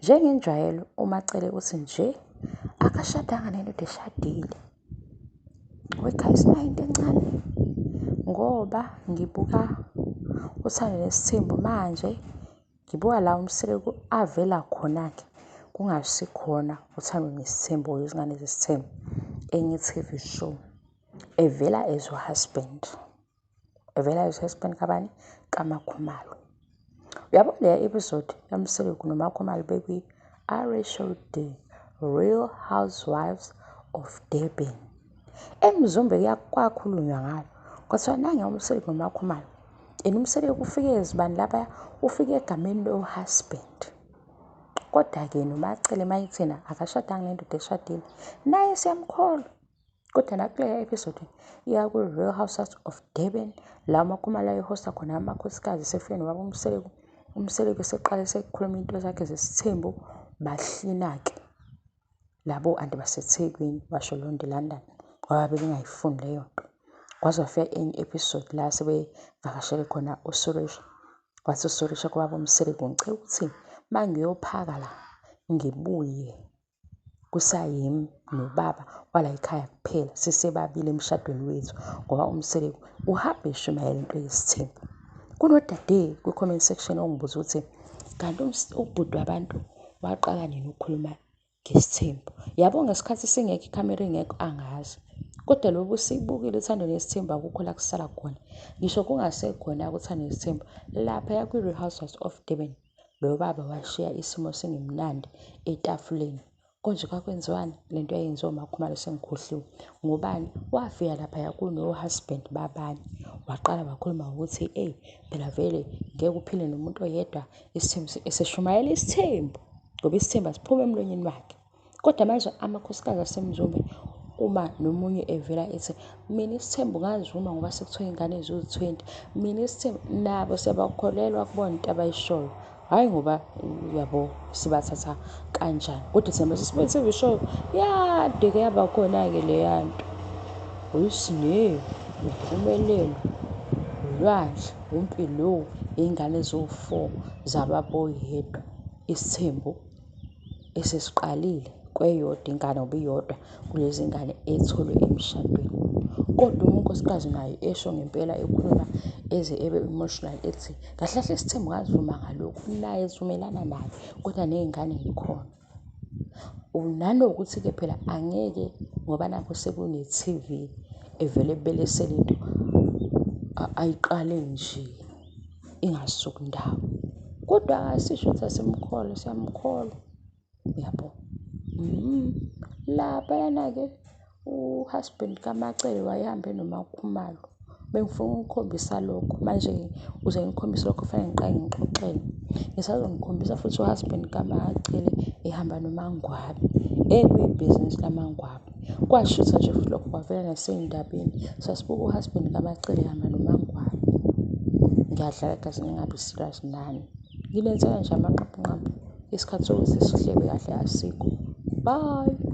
Njengenjwayelo uMaCele uthi nje akashadanga nendoda eshadile. Wekhaya isinayo into encane ngoba ngibuka uthando nesithembu manje ngibuka la umsile avela khona-ke kungasikhona uthando nesithembu or izingane zesithembu enye i-T_V show evela as u-husband. evela esesibeni kabani kamakhumalo uyabo leya episode yamseleku nomakhumalo bekwi show day real housewives of durban emzumbe kwakhulunywa ngayo kwathiwa nange umseleku nomakhumalo and umseleku ufike ezibani laphaya ufike egameni lo-husband kodwa-ke nomacele mayithina akashadanga nendoda eshadile naye siyamkholwa kodwa la kuleya episode iya ku-real houses of durban la umakhumalo ayehosta khona amakhosikazi esefike nobaba umseleku umseleku eseqale sekukhuluma into zakhe zesithembu bahlina-ke labo anti basethekwini basho leyo nto ilondon ngoba bebengayifuni leyo nto kwaze wafika enye episode la sebevakashele khona usuresh wathi usuresh kubaba umseleku ngicela ukuthi uma ngiyophaka la ngibuye kusayimi nobaba wala yikhaya kuphela sisebabili emshadweni wethu ngoba umseleku uhambe eshumayela into yesithembu kunodade kwi-comment section ongibuza ukuthi kanti ubhuti wabantu waqala nini ukukhuluma ngesithembu yabo ngesikhathi singekho ikhamera ingekho angazi kodwa lobu sibukile uthando nesithembu akukho la kusala khona ngisho kungasekhona uthando nesithembu lapha yakwi-real housewives of durban Lo baba washiya isimo singemnandi etafuleni. Konje kwakwenziwani le nto yayenziwa umakhumalo sengikhohliwe. Ngubani? Wafika laphaya kuno-husband babanye. Waqala wakhuluma ngokuthi eyi phela vele ngeke uphile nomuntu oyedwa isithembu esishumayela isithembu ngoba isithembu asiphumi emlonyeni wakhe. Kodwa manje amakhosikazi aseMzumbe uma nomunye evela ethi mina isithembu ngazuma ngoba sekuthiwa ingane ziwu-twenty, mina isithembu nabo siyabakholelwa kubona into abayishoyo. Hhayi ngoba yabo sibathatha kanjani kodwa thina mase sibona into ezishoyo yade-ke yaba khona-ke leya nto. Uyisinewu, impumelelo, ulwandle, uMpilo, iy'ngane eziwu-four zababoyedwa, isithembu. esesiqalile kweyodwa ingane ngoba iyodwa kulezi ngane etholwe emshadweni. Kodwa uma unkosikazi naye esho ngempela ekhuluma eze ebe emotional ethi kahle kahle isithembu ngazivuma ngalokhu naye sivumelana naye kodwa ney'ngane y'khona. Nanokuthi-ke phela angeke ngoba nakhu sekune-T_V evele ebelesele into ayiqale nje. ingasuki ndawo kodwa asisho ukuthi asimkholwa siyamkholwa yabo mm. laphayana-ke uhusband kamacele wayehambe nomakhumalo bengifuna ukukhombisa lokho manje uze ngikhombise lokho fanele ngiqale ngixoxele ngisazongikhombisa futhi uhusband kamacele ehamba nomangwabe ekuyibhizinisi lamangwabe Kwashisa nje futhi lokho kwavela nasey'ndabeni. Sasibuka u-husband kaMacengwana noMaNgwabi. Ngiyadlala kahle ngingabi serious nani. Nginethemba nje amanqabu nqabu isikhathi sokuthi sidlale kahle asikho. Bye.